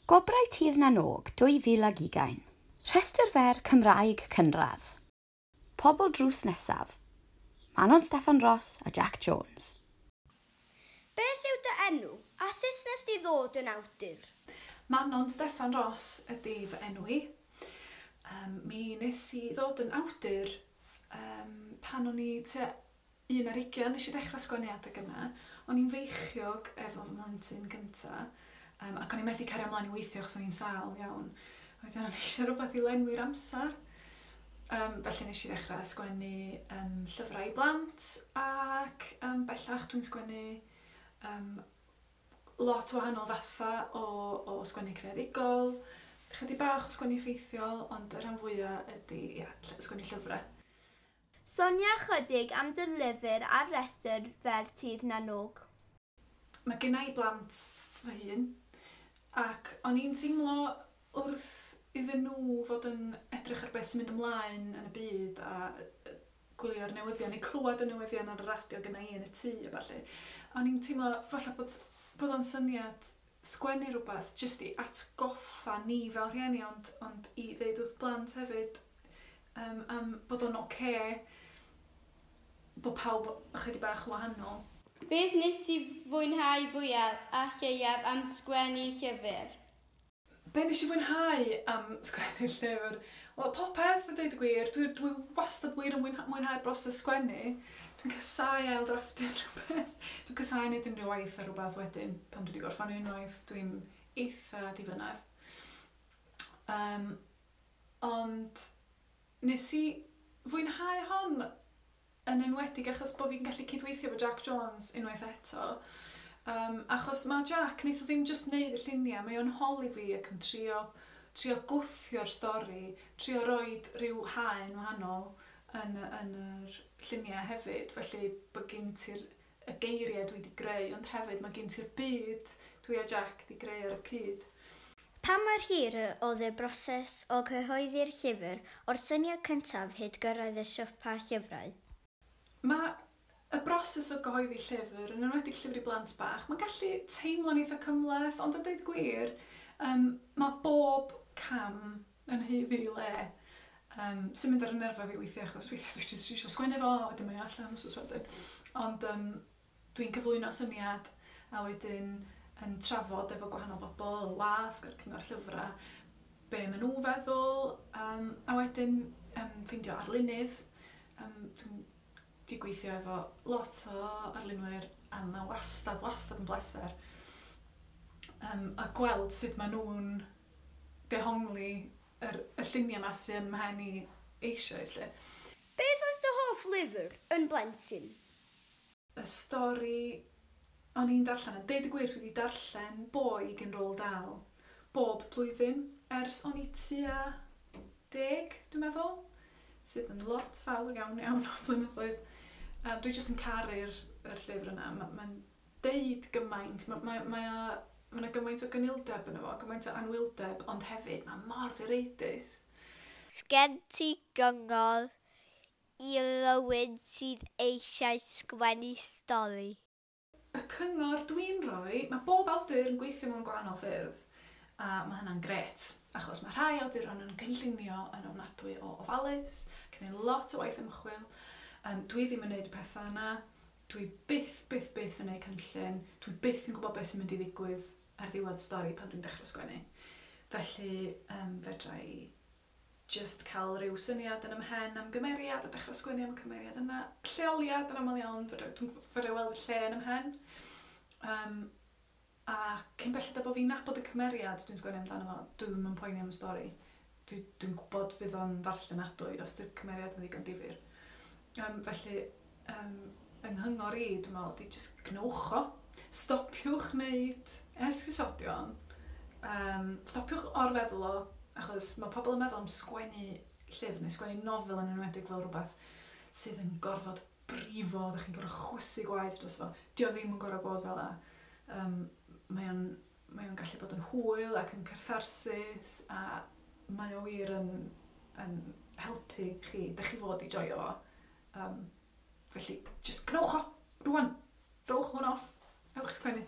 Gwobrau Tir na n-Og 2020. Rhestr fer Cymraeg cynradd. Pobl drws nesaf. Manon Steffan Ros a Jac Jones. Beth yw dy enw, a sut nes di ddod yn awdur? Manon Steffan Ros ydi fy enw i. Yym mi nes i ddod yn awdur yym pan o'n i tua Un ar ugain, nes i ddechrau sgwennu adeg yna. O'n i'n feichiog efo fy mhlentyn gynta, yym, ac o'n i methu cario ymlaen i weithio achos o'n i'n sâl iawn. A wedyn o'n i eisiau rhywbeth i lenwi'r amser, um, felly nes i ddechrau sgwennu um, llyfrau i blant, ac um, bellach dwi'n sgwennu um, lot o wahanol fatha o, o sgwennu creadigol, chydig bach o sgwennu ffeithiol, ond y rhan fwyaf ydy, ia, sgwennu llyfrau. Sonia ychydig am dy lyfr a'r rhestr fer Tir na n-Og. Mae genna i blant fy hun ac o'n i'n teimlo wrth iddyn nhw fod yn edrych ar beth sy'n mynd ymlaen yn y byd a gwylio'r newyddion neu clywed y newyddion ar y radio genna i yn y tŷ a ballu, o'n i'n teimlo falla bod bod o'n syniad sgwennu rhywbeth jyst i atgoffa ni fel rhieni ond ond i ddeud wrth blant hefyd yym am bod o'n ocê bod pawb ychydig bach yn wahanol. Beth wnest ti fwynhau fwyaf a lleiaf am sgwennu llyfr? Be' nesh i fwynhau am sgwennu llyfr? Wel popeth a deud y gwir dwi dwi wastad wir yn mwynha- mwynhau'r broses sgwennu. Dwi'n casau ail ddrafftio rhywbeth. Dwi'n casau neud unrhyw waith ar rwbath wedyn pan dwi 'di gorffan un waith dwi'n eitha difynnar. Yym ond nes i fwynhau hon yn enwedig achos bod fi'n gallu cydweithio efo Jac Jones unwaith eto, um, achos mae Jac, wnaeth o ddim jyst wneud y lluniau, mae o'n holi fi ac yn trio, trio gwthio'r stori, trio roi rhyw haen wahanol yn, yn yr lluniau hefyd, felly bod gen ti'r y geiriau dwi 'di greu ond hefyd mae gen ti'r byd dwi a Jac 'di greu ar y cyd. Pa mor hir y oedd y broses o gyhoeddi'r llyfr o'r syniad cyntaf hyd gyrraedd y siopa llyfrau? Mae y broses o gyhoeddi llyfr, yn enwedig llyfr i blant bach, mae'n gallu teimlo'n eitha' cymhleth ond a deud y gwir yym mae bob cam yn haeddu ei le, um, sy'n mynd ar y nerfau fi weithiau achos weithiau dwi jyst eisiau sgwennu fo a wedyn mae allan os oes wedyn. Ond um, dwi'n cyflwyno syniad a wedyn yn trafod efo gwahanol bobl, y wasg a'r cyngor llyfrau, be maen nhw feddwl, um, a wedyn um, ffeindio arlunydd. Um, dwi'n di gweithio efo lot o arlunwyr a mae wastad, wastad yn bleser um, a gweld sut maen nhw'n dehongli yr y lluniau 'ma sy yn mhen i eisioes 'lly. Beth oedd dy hoff lyfr yn blentyn? Y stori o'n i'n darllen, a deud y gwir dwi 'di darllen Boyg yn Roald Dahl bob blwyddyn ers o'n i tua deg dwi'n meddwl, sydd yn lot fawr iawn iawn o flynyddoedd. Yym dwi jyst yn caru'r yr llyfr yna, ma' ma'n deud gymaint, ma' mae mae o, ma' 'na gymaint o gynildeb yno fo, gymaint o anwyldeb, ond hefyd mae o mor ddireidus. Sgen ti gyngor i rywun sydd eisiau sgwennu stori? Y cyngor dwi'n rhoi, mae bob awdur yn gweithio mewn gwahanol ffyrdd, a mae hynna'n grêt, achos mae rhai awduron yn cynllunio yn ofnadwy o ofalus, gneud lot o waith ymchwil, yym dwi ddim yn neud y petha' yna, Dwi byth, byth, byth yn neud cynllun, dwi byth yn gwbod be' sy'n mynd i ddigwydd ar ddiwedd y stori pan dwi'n dechra sgwennu. Felly, yym, fedra i jyst ca'l ryw syniad yn 'y mhen am gymeriad a dechra sgwennu am y cymeriad yna. Lleoliad, yn amal iawn, fedra i, dw- fedra i weld y lle yn 'y mhen. Yym. A cyn belled â bo' fi'n nabod y cymeriad dwi'n sgwennu amdano fo, dwi'm yn poeni am y stori. Dwi, dwi'n gwbod fydd o'n ddarllenadwy os 'di'r cymeriad yn ddigon difyr. Yym, felly, yym, yng nghyngor i, dwi'n meddwl, ydi jyst gwnewch o. Stopiwch wneud esgusodion, yym, stopiwch or-feddwl o, achos ma' pobl yn meddwl am sgwennu llyfr neu sgwennu nofel yn enwedig fel rwbeth sydd yn gorfod brifo, ydych chi'n gorfod chwysu gwaed dros fo. Dio ddim yn gorfod bod fel la. Um, mae o'n mae o'n gallu bod yn hwyl ac yn cartharsus a mae o wir yn, yn helpu chi. Da chi fod i joio fo. Um, felly, just cnwch o, rwan. Rowch hwn off. Ewch sgwennu.